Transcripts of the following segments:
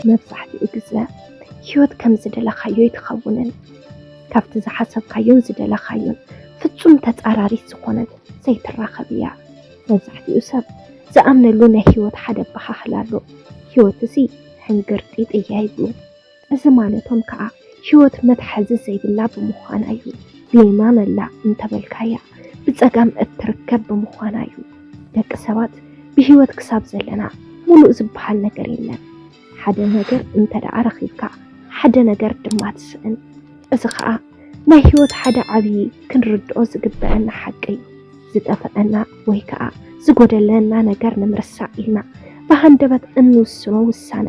መብዛሕትኡ ግዘ ህይወት ከም ዝደለኻዮ ኣይትኸውንን። ካብቲ ዝሓሰብካዮን ዝደለኻዮን ፍፁም ተፃራሪት ዝኾነት ዘይትራኸብ እያ። መብዛሕትኡ ሰብ ዝኣምነሉ ናይ ህይወት ሓደ ኣበሃህላ ኣሎ፣ ህይወት እዚ ሕንግርጢጥ እያ ይብሉ። እዚ ማለቶም ከኣ ህይወት መትሓዚ ዘይብላ ብምዃና እዩ። ብየማን ኣላ እንተበልካያ ብጸጋም እትርከብ ብምዃና እዩ። ደቂ ሰባት ብህይወት ክሳብ ዘለና ሙሉእ ዝበሃል ነገር የለን። ሓደ ነገር እንተደኣ ረኺብካ ሓደ ነገር ድማ ትስእን። እዚ ከኣ ናይ ህይወት ሓደ ዓብዪ ክንርድኦ ዝግበእና ሓቂ እዩ። ዝጠፈኣና ወይ ከኣ ዝጎደለና ነገር ንምርሳዕ ኢልና ብሃንደበት እንውስኖ ውሳነ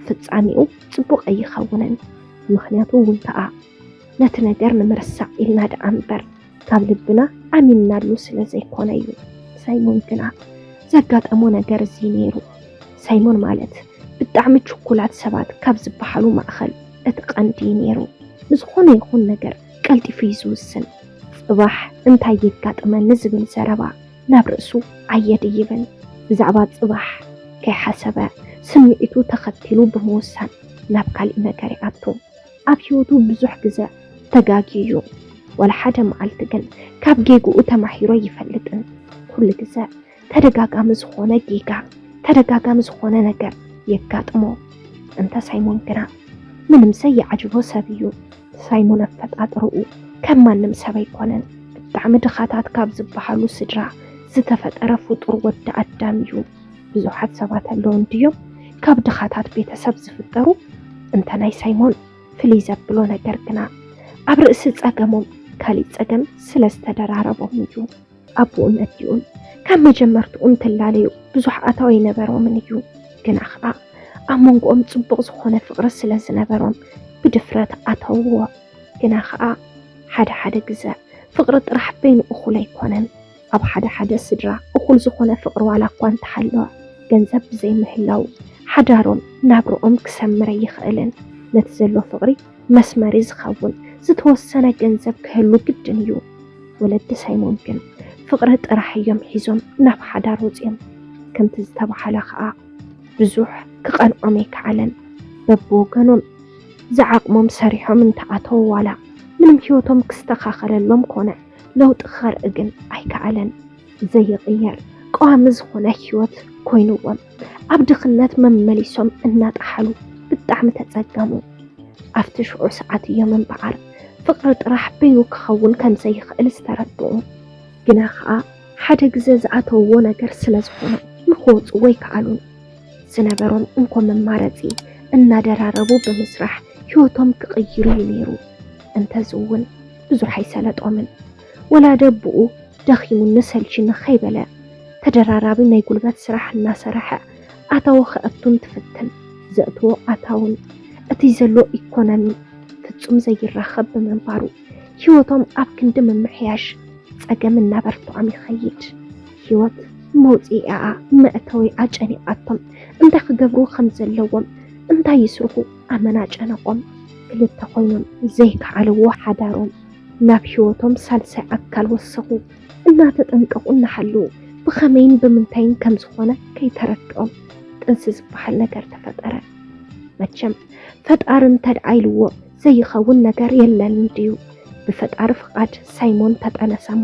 ፍጻሜኡ ጽቡቕ ኣይኸውንን። ምኽንያቱ እውን ከኣ ነቲ ነገር ንምርሳዕ ኢልና ደኣ እምበር ካብ ልብና ኣሚንናሉ ስለ ዘይኮነ እዩ። ሳይሞን ግና ዘጋጠሞ ነገር እዚ ነይሩ። ሳይሞን ማለት ብጣዕሚ ችኩላት ሰባት ካብ ዝበሃሉ ማእኸል እቲ ቀንዲ ነይሩ። ንዝኾነ ይኹን ነገር ቀልጢፉ እዩ ዝውስን። ፅባሕ እንታይ የጋጥመኒ ዝብል ዘረባ ናብ ርእሱ ኣየድይብን። ብዛዕባ ፅባሕ ከይሓሰበ ስምዒቱ ተኸቲሉ ብምውሳን ናብ ካሊእ ነገር ይኣቱ። ኣብ ሂወቱ ብዙሕ ግዘ ተጋግዩ እዩ ዋላ ሓደ መዓልቲ ግን ካብ ጌግኡ ተማሂሩ ኣይፈልጥን። ኩሉ ግዘ ተደጋጋሚ ዝኾነ ጌጋ ተደጋጋሚ ዝኾነ ነገር የጋጥሞ። እንተ ሳይሞን ግና ምንም ዘየዓጅቦ ሰብ እዩ። ሳይሞን ኣፈጣጥርኡ ከም ማንም ሰብ ኣይኮነን። ብጣዕሚ ድኻታት ካብ ዝበሃሉ ስድራ ዝተፈጠረ ፍጡር ወዲ ኣዳም እዩ። ብዙሓት ሰባት ኣለዉ እንድዮም ካብ ድኻታት ቤተሰብ ዝፍጠሩ እንተ ናይ ሳይሞን ፍልይ ዘብሎ ነገር ግና ኣብ ርእሲ ጸገሞም ካሊእ ጸገም ስለ ዝተደራረቦም እዩ። ኣቦኡን ኣዲኡን ካብ መጀመርትኡ እንትላለዩ ብዙሕ ኣታዊ ኣይነበሮምን እዩ። ግና ኸኣ ኣብ መንጎኦም ጽቡቕ ዝኾነ ፍቕሪ ስለ ዝነበሮም ብድፍረት ኣተውዎ። ግና ኸኣ ሓደ ሓደ ግዘ ፍቕሪ ጥራሕ በይኑ እኹል ኣይኮነን። ኣብ ሓደ ሓደ ስድራ እኹል ዝኾነ ፍቕሪ ዋላ እኳ እንተሃለወ፣ ገንዘብ ብዘይምህላዉ ሓዳሮም፣ ናብርኦም ክሰምር ኣይኽእልን። ነቲ ዘሎ ፍቕሪ መስመሪ ዝኸውን ዝተወሰነ ገንዘብ ክህሉ ግድን እዩ። ወለዲ ሳይሞን ግን ፍቕሪ ጥራሕ እዮም ሒዞም ናብ ሓዳር ወጺኦም። ከምቲ ዝተባህለ ከኣ ብዙሕ ክቐንዖም ኣይከኣለን። በብወገኖም ዝዓቕሞም ሰሪሖም እንተኣተዉ ዋላ ምንም ህይወቶም ክስተኻኸለሎም ኮነ። ለውጢ ክኸርእ ግን ኣይከኣለን። ዘይቕየር ቀዋሚ ዝኾነ ህይወት ኮይኑዎም ኣብ ድኽነት መመሊሶም እናጠሓሉ ብጣዕሚ ተፀገሙ። ኣብቲ ሽዑ ሰዓት እዮም እምበኣር ፍቕሪ ጥራሕ በይኑ ክኸውን ከምዘይኽእል ዝተረድኡ። ግና ከዓ ሓደ ግዘ ዝኣተውዎ ነገር ስለዝኾነ ንክወፁዎ ኣይከኣሉን። ዝነበሮም እንኮ መማረፂ እናደራረቡ ብምስራሕ ህይወቶም ክቕይሩ እዩ ነይሩ። እንተዝውን ብዙሕ ኣይሰለጦምን። ወላ ደቡኡ ደኺሙኒ ሰልቺኒ ከይበለ ተደራራቢ ናይ ጉልበት ስራሕ እናሰረሐ ኣታዊ ከእቱ እንትፍትን ዘእትዎ ኣታውን እቲ ዘሎ ኢኮኖሚ ፍፁም ዘይራኸብ ብምንባሩ ህይወቶም ኣብ ክንዲ ምምሕያሽ ፀገም እናበርትዖም ይኸይድ። ህይወት መውፅኢኣ መእተዊኣ ጨኒቓቶም እንታይ ክገብሩ ከም ዘለዎም፣ እንታይ ይስርሑ፣ ኣመና ጨነቆም ክልተ ኮይኖም ዘይከዓልዎ ሓዳሮም ናብ ህይወቶም ሳልሳይ ኣካል ወሰኹ። እናተጠንቀቁ እናሃለዉ ብኸመይን ብምንታይን ከምዝኾነ ከይተረድኦም ጥንሲ ዝበሃል ነገር ተፈጠረ። መቸም ፈጣሪ እንተድኣ ኢልዎ ዘይኸውን ነገር የለን እንድዩ። ብፈጣሪ ፍቃድ ሳይሞን ተጠነሰሞ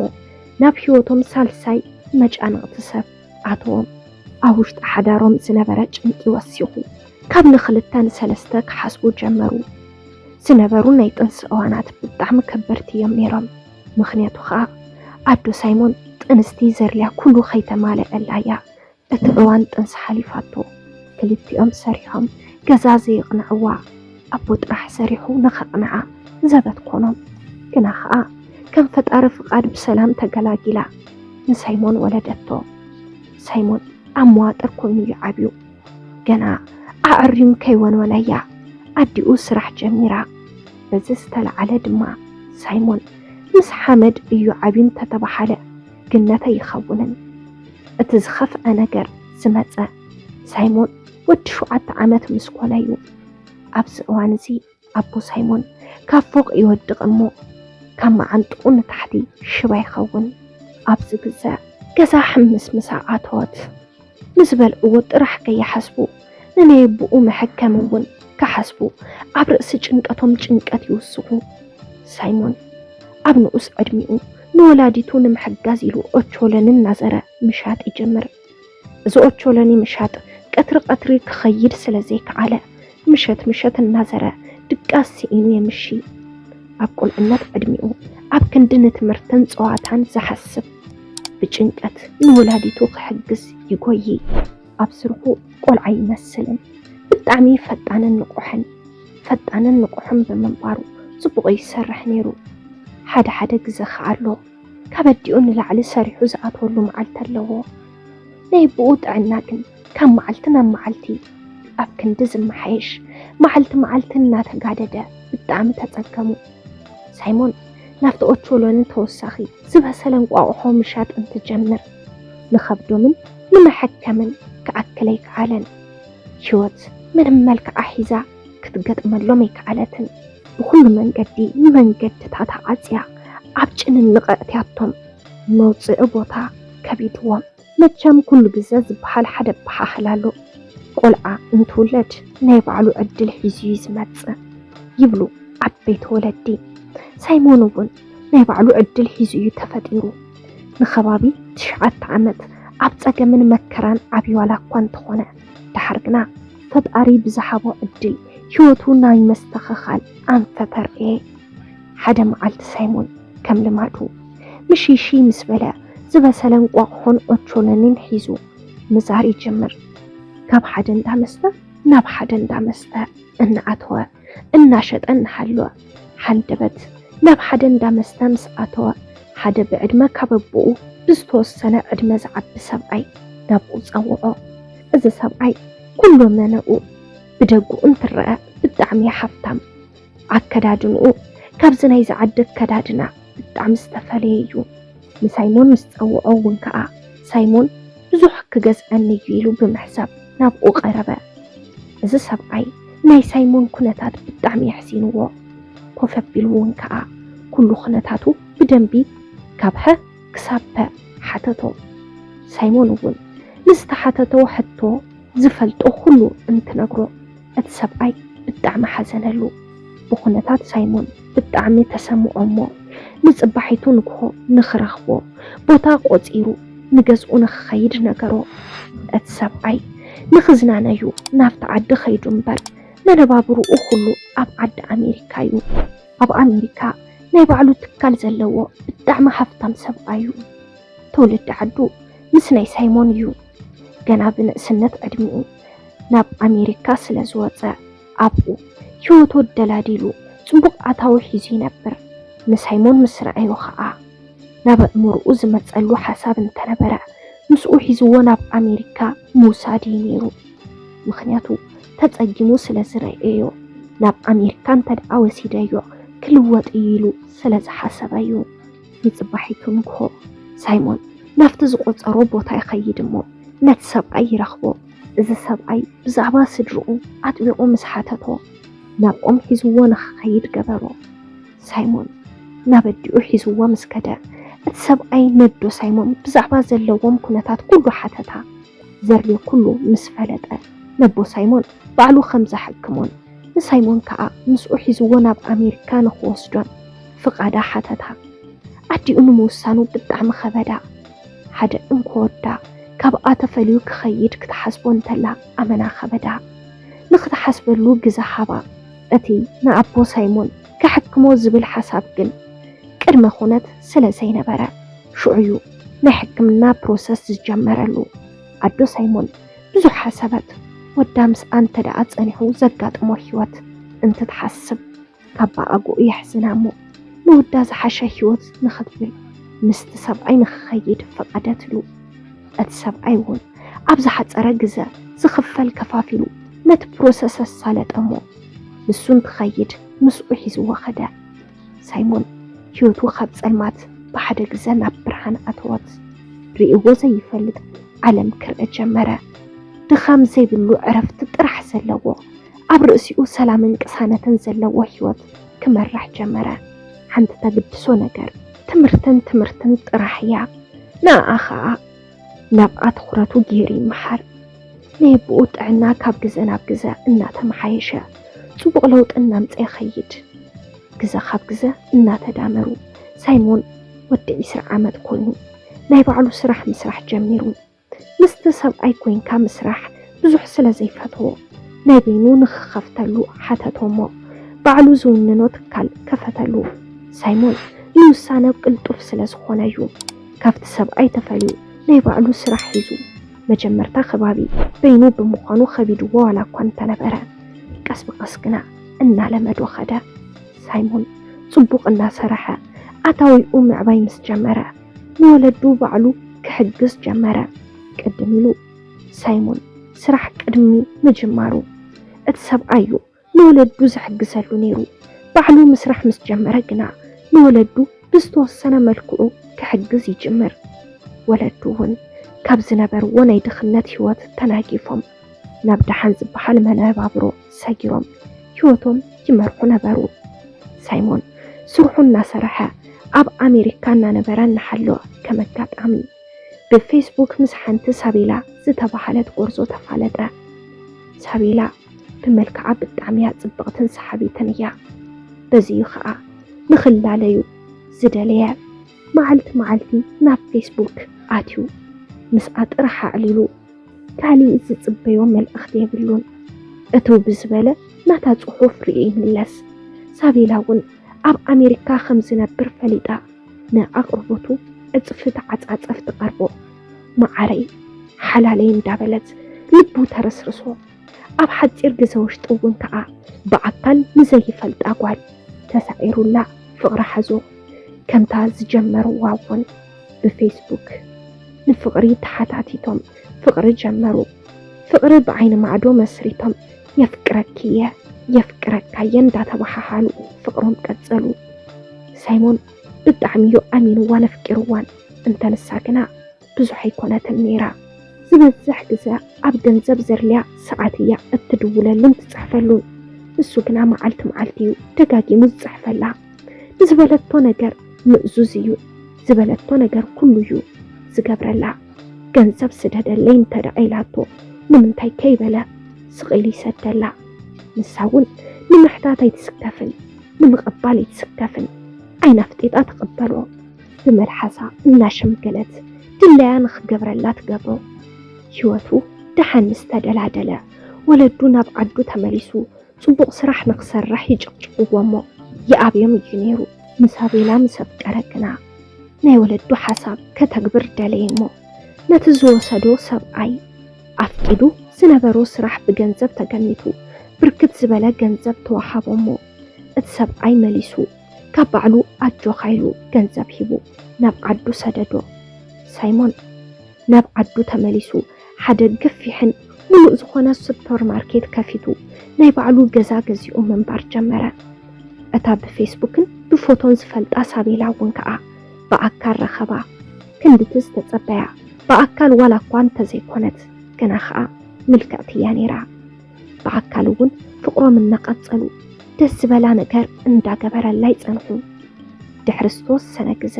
ናብ ህይወቶም ሳልሳይ መጫንቕቲ ሰብ። ኣቶም ኣብ ውሽጢ ሓዳሮም ዝነበረ ጭንቂ ወሲኹ ካብ ንክልተ ንሰለስተ ክሓስቡ ጀመሩ። ዝነበሩ ናይ ጥንሲ እዋናት ብጣዕሚ ከበድቲ እዮም ነይሮም። ምኽንያቱ ኸኣ ኣዶ ሳይሞን ጥንስቲ ዘድልያ ኩሉ ከይተማለኣላ እያ እቲ እዋን ጥንሲ ሓሊፋቶ። ክልቲኦም ሰሪሖም ገዛ ዘየቕንዕዋ። ኣቦ ጥራሕ ሰሪሑ ንኸቕንዓ ዘበት ኮኖም። ግና ኸኣ ከም ፈጣሪ ፍቓድ ብሰላም ተገላጊላ ንሳይሞን ወለደቶ። ሳይሞን ኣብ መዋጥር ኮይኑ እዩ ዓብዩ። ገና ኣዐርዩ ከይወንወላ እያ ኣዲኡ ስራሕ ጀሚራ። በዚ ዝተለዓለ ድማ ሳይሞን ምስ ሓመድ እዩ ዓብዩ እንተተበሃለ ግነት ኣይኸውንን። እቲ ዝኸፍኣ ነገር ዝመጸ ሳይሞን ወዲ ሸውዓተ ዓመት ምስ ኮነ እዩ ኣብዚ እዋን እዚ ኣቦ ሳይሞን ካብ ፎቕ ይወድቕ እሞ ካብ መዓንጥኡ ንታሕቲ ሽባ ይኸውን። ኣብዚ ግዘ ገዛ ሕምስ ምሳ ኣተወት። ንዝበልዕዎ ጥራሕ ከይሓስቡ ንነየብኡ መሐከሚ እውን ክሓስቡ ኣብ ርእሲ ጭንቀቶም ጭንቀት ይውስኹ። ሳይሞን ኣብ ንኡስ ዕድሚኡ ንወላዲቱ ንምሕጋዝ ኢሉ ኦቾሎኒ እናዘረ ምሻጥ ይጅምር። ዝኦቾሎኒ ምሻጥ ቀትሪ ቀትሪ ክኸይድ ስለ ዘይከኣለ ምሸት ምሸት እናዘረ ድቃስ ስኢኑ የምሺ። ኣብ ቁልዕነት ዕድሚኡ ኣብ ክንዲ ንትምህርትን ጸዋታን ዝሓስብ ብጭንቀት ንወላዲቱ ክሕግዝ ይጎዪ። ኣብ ስርሑ ቆልዓ ይመስልን ብጣዕሚ ፈጣንን ንቑሕን ፈጣንን ንቑሕን ብምንባሩ ጽቡቕ ይሰርሕ ነይሩ። ሓደ ሓደ ግዘ ከኣሎ ካብ ኣዲኡ ንላዕሊ ሰሪሑ ዝኣትወሉ መዓልቲ ኣለዎ። ናይ ኣቦኡ ጥዕና ግን ካብ መዓልቲ ናብ መዓልቲ ኣብ ክንዲ ዝመሓየሽ መዓልቲ መዓልቲ እናተጋደደ ብጣዕሚ ተጸገሙ። ሳይሞን ናብቲ ኦቾሎኒ ተወሳኺ ዝበሰለ እንቋቑሖ ምሻጥ እንትጀምር ንኸብዶምን ንመሐከምን ክኣክል ኣይከኣለን። ህይወት ምንም መልክዓ ሒዛ ክትገጥመሎም ኣይከኣለትን። ብኹሉ መንገዲ ንመንገድታታ ዓጽያ ኣብ ጭንንቕ ኣእትያቶም። መውጽኢ ቦታ ከቢድዎም። መቸም ኩሉ ግዘ ዝበሃል ሓደ ኣበሃህላ ኣሎ፣ ቆልዓ እንትውለድ ናይ ባዕሉ ዕድል ሒዙ'ዩ ዝመጽእ ይብሉ ዓበይቲ ወለዲ። ሳይሞን'ውን ናይ ባዕሉ ዕድል ሒዙ'ዩ ተፈጢሩ። ንከባቢ ትሽዓተ ዓመት ኣብ ጸገምን መከራን ዓብዩ ዋላ'ኳ እንተኾነ። ደሓር ግና ፈጣሪ ብዝሓቦ ዕድል ህይወቱ ናይ መስተኸኻል ኣንፈት ኣርእየ። ሓደ መዓልቲ ሳይሞን ከም ልማዱ ምሽይሽይ ምስ በለ ዝበሰለ እንቋቑሖን ኦቾሎኒን ሒዙ ምዛር ይጅምር። ካብ ሓደ እንዳ መስተ ናብ ሓደ እንዳ መስተ እናኣተወ እናሸጠ እናሃለወ ሃንደበት ናብ ሓደ እንዳ መስተ ምስ ኣተወ፣ ሓደ ብዕድመ ካብ ኣቦኡ ብዝተወሰነ ዕድመ ዝዓቢ ሰብኣይ ናብኡ ጸውዖ። እዚ ሰብኣይ ኩሉ መነኡ ብደጉ እንትረኣ ብጣዕሚ ሃፍታም፣ ኣከዳድንኡ ካብዚ ናይዚ ዓዲ ኣከዳድና፣ ብጣዕሚ ዝተፈለየ እዩ። ንሳይሞን ምስ ጸውዖ እውን ከኣ ሳይሞን ብዙሕ ክገዝኣኒ እዩ ኢሉ ብምሕሳብ ናብኡ ቀረበ። እዚ ሰብኣይ ናይ ሳይሞን ኩነታት ብጣዕሚ የሕሲንዎ። ኮፍ ኣቢሉ እውን ከኣ ኩሉ ኩነታቱ ብደንቢ ካብ ሀ ክሳብ ፐ ሓተቶ። ሳይሞን እውን ንዝተሓተቶ ሕቶ ዝፈልጦ ኩሉ እንትነግሮ። እቲ ሰብኣይ ብጣዕሚ ሓዘነሉ። ብኹነታት ሳይሞን ብጣዕሚ ተሰምዖ'ሞ ንጽባሒቱ ንግሆ ንኽረኽቦ ቦታ ቆጺሩ ንገዝኡ ንኽኸይድ ነገሮ። እቲ ሰብኣይ ንኽዝናነ'ዩ ናብቲ ዓዲ ከይዱ'ምበር መነባብሮኡ ኩሉ ኣብ ዓዲ ኣሜሪካ'ዩ። ኣብ ኣሜሪካ ናይ ባዕሉ ትካል ዘለዎ ብጣዕሚ ሃፍታም ሰብኣይ'ዩ። ትውልዲ ዓዱ ምስ ናይ ሳይሞን'ዩ። ገና ብንእስነት ዕድሚኡ ናብ ኣሜሪካ ስለ ዝወፀ ኣብኡ ህይወቱ ኣደላዲሉ ፅቡቕ ኣታዊ ሒዙ ይነብር። ንሳይሞን ምስ ረኣዮ ኸዓ ናብ ኣእምርኡ ዝመፀሉ ሓሳብ እንተነበረ ምስኡ ሒዝዎ ናብ ኣሜሪካ ምውሳድ እዩ ነይሩ። ምኽንያቱ ተፀጊሙ ስለ ዝረኣዮ ናብ ኣሜሪካ እንተድኣ ወሲደዮ ክልወጥ እዩ ኢሉ ስለ ዝሓሰበ እዩ። ንጽባሒቱ ንግሆ ሳይሞን ናብቲ ዝቖጸሮ ቦታ ይኸይድ እሞ ነቲ ሰብኣይ ይረኽቦ። እዚ ሰብኣይ ብዛዕባ ስድርኡ ኣጥቢቑ ምስ ሓተቶ ናብ ኦም ሒዝዎ ንኽኸይድ ገበሮ። ሳይሞን ናብ ኣዲኡ ሒዝዎ ምስ ከደ እቲ ሰብኣይ ነዶ ሳይሞን ብዛዕባ ዘለዎም ኩነታት ኩሉ ሓተታ። ዘርዮ ኩሉ ምስ ፈለጠ ነቦ ሳይሞን ባዕሉ ከም ዘሐክሞን ንሳይሞን ከኣ ምስኡ ሒዝዎ ናብ ኣሜሪካ ንኽወስዶን ፍቓዳ ሓተታ። ኣዲኡ ንምውሳኑ ብጣዕሚ ኸበዳ። ሓደ እንኮ ወዳ ካብኣ ተፈልዩ ክኸይድ ክትሓስቦ እንተላ ኣመና ኸበዳ። ንኽትሓስበሉ ግዘ ሃባ። እቲ ንኣቦ ሳይሞን ከሐክሞ ዝብል ሓሳብ ግን ቅድመ ኹነት ስለ ዘይነበረ ሽዑ'ዩ ናይ ሕክምና ፕሮሰስ ዝጀመረሉ። ኣዶ ሳይሞን ብዙሕ ሓሰበት ወዳ ምስኣ እንተደኣ ጸኒሑ ዘጋጥሞ ህይወት እንትትሓስብ ኣባኣጉኡ የሕዝና እሞ ንውዳ ዝሓሸ ህይወት ንኽትብል ምስቲ ሰብኣይ ንኽኸይድ ፈቐደትሉ እቲ ሰብኣይ እውን ኣብ ዝሓፀረ ግዘ ዝኽፈል ከፋፊሉ ነቲ ፕሮሰስ ኣሳለጠ እሞ ንሱ እንትኸይድ ምስኡ ሒዝዎ ኸደ ሳይሞን ህይወቱ ካብ ጸልማት ብሓደ ግዘ ናብ ብርሃን ኣተወት። ርእይዎ ዘይፈልጥ ዓለም ክርእ ጀመረ። ድኻም ዘይብሉ ዕረፍቲ ጥራሕ ዘለዎ ኣብ ርእሲኡ ሰላምን ቅሳነትን ዘለዎ ህይወት ክመራሕ ጀመረ። ሓንቲ ተግድሶ ነገር ትምህርትን ትምህርትን ጥራሕ እያ። ንኣኣ ኸኣ ናብኣ ትኹረቱ ገይሩ ይመሓር። ናይ ኣቦኡ ጥዕና ካብ ግዘ ናብ ግዘ እናተመሓየሸ ፅቡቕ ለውጢ እናምፀ ይኸይድ። ግዘ ካብ ግዘ እናተዳመሩ ሳይሞን ወዲ ዒስራ ዓመት ኮይኑ ናይ ባዕሉ ስራሕ ምስራሕ ጀሚሩ። ምስቲ ሰብኣይ ኮይንካ ምስራሕ ብዙሕ ስለ ዘይፈተዎ ናይ በይኑ ንኽኸፍተሉ ሓተቶ'ሞ ባዕሉ ዝውንኖ ትካል ከፈተሉ። ሳይሞን ንውሳነ ቅልጡፍ ስለ ዝኾነ'ዩ ካብቲ ሰብኣይ ተፈልዩ ናይ ባዕሉ ስራሕ ሒዙ። መጀመርታ ከባቢ በይኑ ብምዃኑ ከቢድዎ ዋላ'ኳ እንተነበረ ቀስ ብቐስ ግና እናለመዶ ከደ። ሳይሞን ጽቡቕ እናሰርሐ ኣታዊኡ ምዕባይ ምስ ጀመረ ንወለዱ ባዕሉ ክሕግዝ ጀመረ። ቅድም ኢሉ ሳይሞን ስራሕ ቅድሚ ምጅማሩ፣ እቲ ሰብኣዩ ንወለዱ ዝሕግዘሉ ነይሩ። ባዕሉ ምስራሕ ምስ ጀመረ ግና፣ ንወለዱ ብዝተወሰነ መልክዑ ክሕግዝ ይጅምር። ወለዱ እውን ካብ ዝነበርዎ ናይ ድኽነት ህይወት ተናጊፎም፣ ናብ ደሓን ዝበሃል መነባብሮ ሰጊሮም ህይወቶም ይመርሑ ነበሩ። ሳይሞን ስርሑ እናሰርሐ ኣብ ኣሜሪካ እናነበረ እናሃለወ ከም ኣጋጣሚ፣ ብፌስቡክ ምስ ሓንቲ ሳቤላ ዝተባህለት ጎርዞ ተፋለጠ። ሳቤላ ብመልክዓ ብጣዕሚያ ጽብቕትን ሰሓቢትን እያ። በዚዩ ከኣ ንኽላለዩ ዝደለየ። መዓልቲ መዓልቲ ናብ ፌስቡክ ኣትዩ ምስኣ ጥራሕ ኣዕሊሉ ካሊእ ዝጽበዮ መልእኽቲ የብሉን። እትው ብዝበለ ናታ ጽሑፍ ርእዩ ይምለስ። ሳቤላ እውን ኣብ ኣሜሪካ ከምዝነብር ፈሊጣ። ንኣቕርቦቱ ዕፅፊ ተዓፃፀፍ ትቐርቦ። መዓረይ፣ ሓላለይ እንዳበለት ልቡ ተረስርሶ። ኣብ ሓፂር ግዘ ውሽጢ እውን ከዓ ብኣካል ንዘይፈልጣ ጓል ተሳዒሩላ ፍቕሪ ሓዞ። ከምታ ዝጀመርዋ እውን ብፌስቡክ ንፍቕሪ ተሓታቲቶም ፍቕሪ ጀመሩ። ፍቕሪ ብዓይኒ ማዕዶ መስሪቶም የፍቅረኪ እየ የፍቅረካ እየ እንዳተባሓሓሉ ፍቅሮም ቀፀሉ። ሳይሞን ብጣዕሚ እዩ ኣሚንዋን ኣፍቂርዋን እንተ ንሳ ግና ብዙሕ ኣይኮነትን ነይራ። ዝበዝሕ ግዘ ኣብ ገንዘብ ዘድልያ ሰዓት እያ እትድውለሉን ትፅሕፈሉን። ንሱ ግና መዓልቲ መዓልቲ እዩ ደጋጊሙ ዝፅሕፈላ። ንዝበለቶ ነገር ምእዙዝ እዩ፣ ዝበለቶ ነገር ኩሉ እዩ ዝገብረላ። ገንዘብ ስደደለይ እንተ ኢላቶ ንምንታይ ከይበለ ስቕ ኢሉ ይሰደላ። ንሳ እውን ንምሕታት ኣይትስከፍን፣ ንምቕባል ኣይትስከፍን፣ ዓይና ኣፍጢጣ ትቕበሎ። ብመልሓሳ እናሸምገለት ድላያ ንኽገብረላ ትገብሮ። ህይወቱ ደሓን ምስ ተደላደለ፣ ወለዱ ናብ ዓዱ ተመሊሱ፣ ጽቡቕ ስራሕ ንኽሰርሕ ይጭቕጭቕዎ'ሞ ይኣብዮም እዩ ነይሩ። ምስ ኣቤላ ምስ ኣፍቀረ ግና ናይ ወለዱ ሓሳብ ከተግብር ደለየ'ሞ ነቲ ዝወሰዶ ሰብኣይ ኣፍቂዱ ዝነበሮ ስራሕ ብገንዘብ ተገሚቱ ብርክት ዝበለ ገንዘብ ተወሃቦ'ሞ እቲ ሰብኣይ መሊሱ ካብ ባዕሉ ኣጆኻ ኢሉ ገንዘብ ሂቡ ናብ ዓዱ ሰደዶ። ሳይሞን። ናብ ዓዱ ተመሊሱ ሓደ ገፊሕን ሙሉእ ዝኾነ ሱፐር ማርኬት ከፊቱ ናይ ባዕሉ ገዛ ገዚኡ ምንባር ጀመረ። እታ ብፌስቡክን ብፎቶን ዝፈልጣ ሳቤላ እውን ከኣ ብኣካል ረኸባ። ክንድቲ ዝተጸበያ ብኣካል ዋላ እኳ እንተዘይኮነት ግና ከኣ ምልክዕቲ እያ ነይራ። ብኣካል እውን ፍቕሮም እናቐጸሉ ደስ ዝበላ ነገር እንዳገበረላ ይጸንሑ። ድሕሪ ዝተወሰነ ግዘ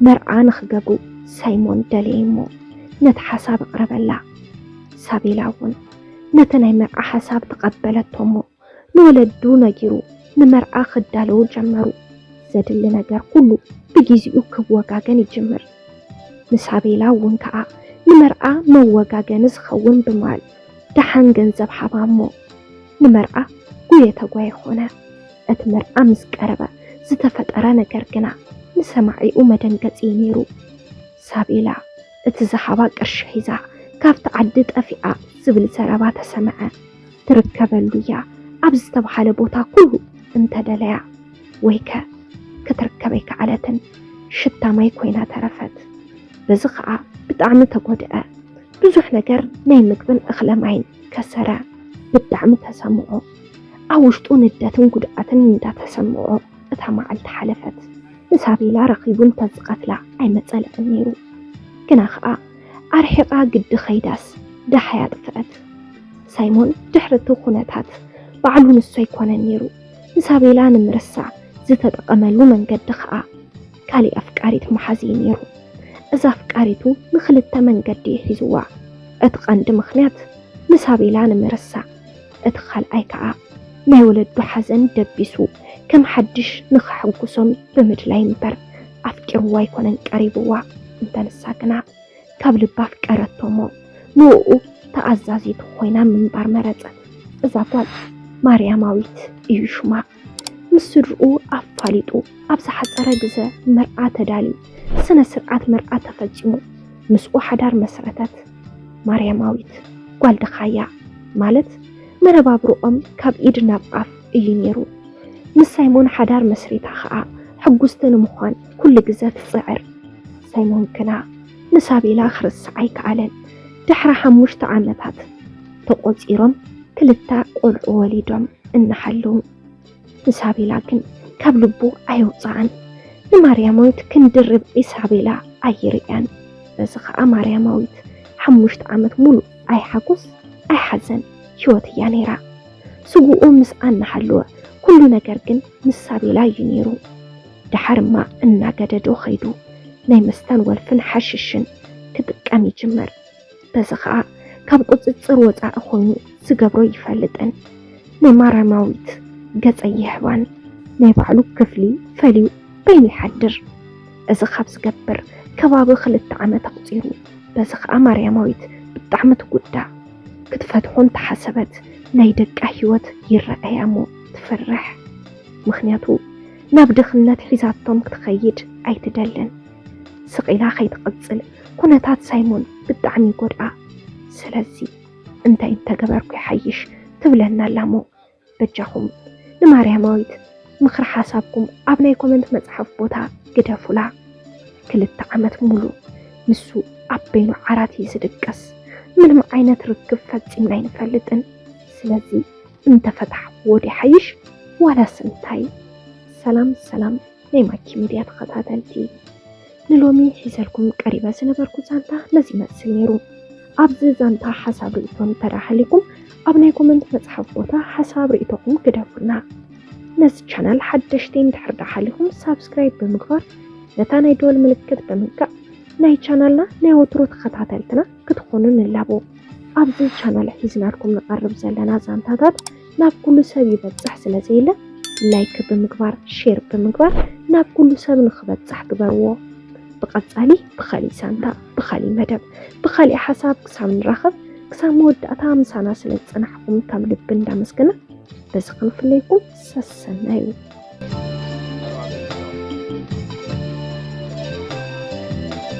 መርዓ ንክገብሩ ሳይሞን ደለየ እሞ ነቲ ሓሳብ ኣቕረበላ። ሳቤላ እውን ነቲ ናይ መርዓ ሓሳብ ተቐበለቶ እሞ ንወለዱ ነጊሩ ንመርዓ ክዳለዉ ጀመሩ። ዘድሊ ነገር ኩሉ ብጊዜኡ ክወጋገን ይጅምር። ንሳቤላ እውን ከዓ ንመርዓ መወጋገኒ ዝኸውን ብማል ደሓን ገንዘብ ሃባ እሞ ንመርዓ ጉየ ተጓየ ኾነ። እቲ መርዓ ምስ ቀረበ ዝተፈጠረ ነገር ግና ንሰማዒኡ መደንገፂ እዩ ነይሩ። ሳቤላ እቲ ዝሃባ ቅርሺ ሒዛ ካብቲ ዓዲ ጠፊኣ ዝብል ዘረባ ተሰምዐ። ትርከበሉ እያ ኣብ ዝተብሃለ ቦታ ኩሉ እንተደለያ ወይከ ክትርከብ ኣይከኣለትን። ሽታ ማይ ኮይና ተረፈት። በዚ ከዓ ብጣዕሚ ተጎድኣ። ብዙሕ ነገር ናይ ምግብን እኽለ ማይን ከሰረ። ብጣዕሚ ተሰምዖ። ኣብ ውሽጡ ንደትን ጉድኣትን እንዳተሰምዖ እታ መዓልቲ ሓለፈት። ንሳቤላ ረኺቡ እንተዝቐትላ ኣይመፀለኣን ነይሩ። ግና ከዓ ኣርሒቓ ግዲ ከይዳስ ደሃይ ኣጥፈኣት። ሳይሞን ድሕሪ እቲ ኩነታት ባዕሉ ንሱ ኣይኮነን ነይሩ ንሳቤላ ንምርሳዕ ዝተጠቐመሉ መንገዲ ከዓ፣ ካሊእ ኣፍቃሪት ምሓዝ እዩ ነይሩ። እዛ ኣፍቃሪቱ ንክልተ መንገዲ እዩ ሒዝዋ። እቲ ቀንዲ ምኽንያት ንሳቤላ ንምርሳዕ፣ እቲ ካልኣይ ከዓ ናይ ወለዱ ሓዘን ደቢሱ ከም ሓድሽ ንከሐጉሶም ብምድላይ እምበር ኣፍቂርዋ ኣይኮነን ቀሪብዋ። እንተ ንሳ ግና ካብ ልባ ኣፍቀረቶ እሞ ንኡኡ ተኣዛዚት ኾይና ምንባር መረፀት። እዛ ጓል ማርያማዊት እዩ ሹማ። ምስ ስድርኡ ኣፋሊጡ ኣብ ዝሓፀረ ግዘ መርዓ ተዳልዩ ስነ ስርዓት መርዓ ተፈፂሙ ምስኡ ሓዳር መስረተት። ማርያማዊት ጓል ድኻያ ማለት መነባብርኦም ካብ ኢድ ናብ ኣፍ እዩ ነይሩ። ምስ ሳይሞን ሓዳር መስሪታ ከዓ ሕጉስቲ ንምዃን ኩሉ ግዘ ትፅዕር። ሳይሞን ግና ንሳቤላ ክርስዓ ኣይከኣለን። ድሕሪ ሓሙሽተ ዓመታት ተቖፂሮም ክልተ ቆልዑ ወሊዶም እናሃለዉ ንሳቤላ ግን ካብ ልቡ ኣየውፅኣን። ንማርያማዊት ክንድርብ ኢሳቤላ ኣይርእያን። በዚ ከዓ ማርያማዊት ሓሙሽተ ዓመት ሙሉእ ኣይሓጎስ ኣይሓዘን ህይወት እያ ነይራ። ስጉኡ ምስኣ እናሃለወ ኩሉ ነገር ግን ምስ ሳቤላ እዩ ነይሩ። ደሓርማ እናገደዶ ከይዱ ናይ መስታን ወልፍን ሓሽሽን ክጥቀም ይጅምር። በዚ ኸኣ ካብ ቁጽጽር ወጻኢ ኮይኑ ዝገብሮ ኣይፈልጥን። ናይ ማራማዊት ገጽ ኣይህባን። ናይ ባዕሉ ክፍሊ ፈልዩ በይኑ ይሓድር። እዚ ካብ ዝገብር ከባቢ ክልተ ዓመት ኣቑጺሩ። በዚ ኸኣ ማርያማዊት ብጣዕሚ ትጉዳእ። ክትፈትሖ እንተሓሰበት ናይ ደቃ ህይወት ይረኣያ'ሞ ትፈርሕ። ምኽንያቱ ናብ ድኽነት ሒዛቶም ክትኸይድ ኣይትደልን። ስቕ ኢላ ከይትቕጽል ኩነታት ሳይሞን ብጣዕሚ ይጎድኣ። ስለዚ እንታይ እንተገበርኩ ይሓይሽ ትብለና ኣላሞ በጃኹም ንማርያማዊት ምኽሪ ሓሳብኩም ኣብ ናይ ኮመንት መጽሓፍ ቦታ ግደፉላ። ክልተ ዓመት ሙሉ ንሱ ኣብ በይኑ ዓራት እዩ ዝድቅስ። ምንም ዓይነት ርክብ ፈጺምና ኣይንፈልጥን። ስለዚ እንተ ፈታሕክዎ ዲሓይሽ ዋላስ እንታይ። ሰላም ሰላም ናይ ማኪ ሚድያ ተኸታተልቲ ንሎሚ ሒዘልኩም ቀሪበ ዝነበርኩ ዛንታ ነዚ ይመስል ነይሩ። ኣብዚ ዛንታ ሓሳብ ርእይቶ እንተድኣ ሃልይኩም ኣብ ናይ ኮመንት መፅሓፍ ቦታ ሓሳብ ርእይቶኹም ግደፉልና። ነዚ ቻናል ሓደሽቲ እንድሕር ድኣ ሃሊኹም ሳብስክራይብ ብምግባር ነታ ናይ ደወል ምልክት ብምንካእ ናይ ቻናልና ናይ ወትሩ ተኸታተልትና ክትኾኑ ንላቦ። ኣብዚ ቻናል ሒዝናልኩም ንቐርብ ዘለና ዛንታታት ናብ ኩሉ ሰብ ይበፅሕ ስለ ዘየለ ላይክ ብምግባር ሼር ብምግባር ናብ ኩሉ ሰብ ንክበፅሕ ግበርዎ። ብቐፃሊ ብኻሊእ ሳንታ ብኻሊእ መደብ ብኻሊእ ሓሳብ ክሳብ ንራኸብ ክሳብ መወዳእታ ምሳና ስለ ዝፀናሕኹም ካብ ልቢ እንዳመስገና በዚ ክንፍለይኩም ሰሰናዩ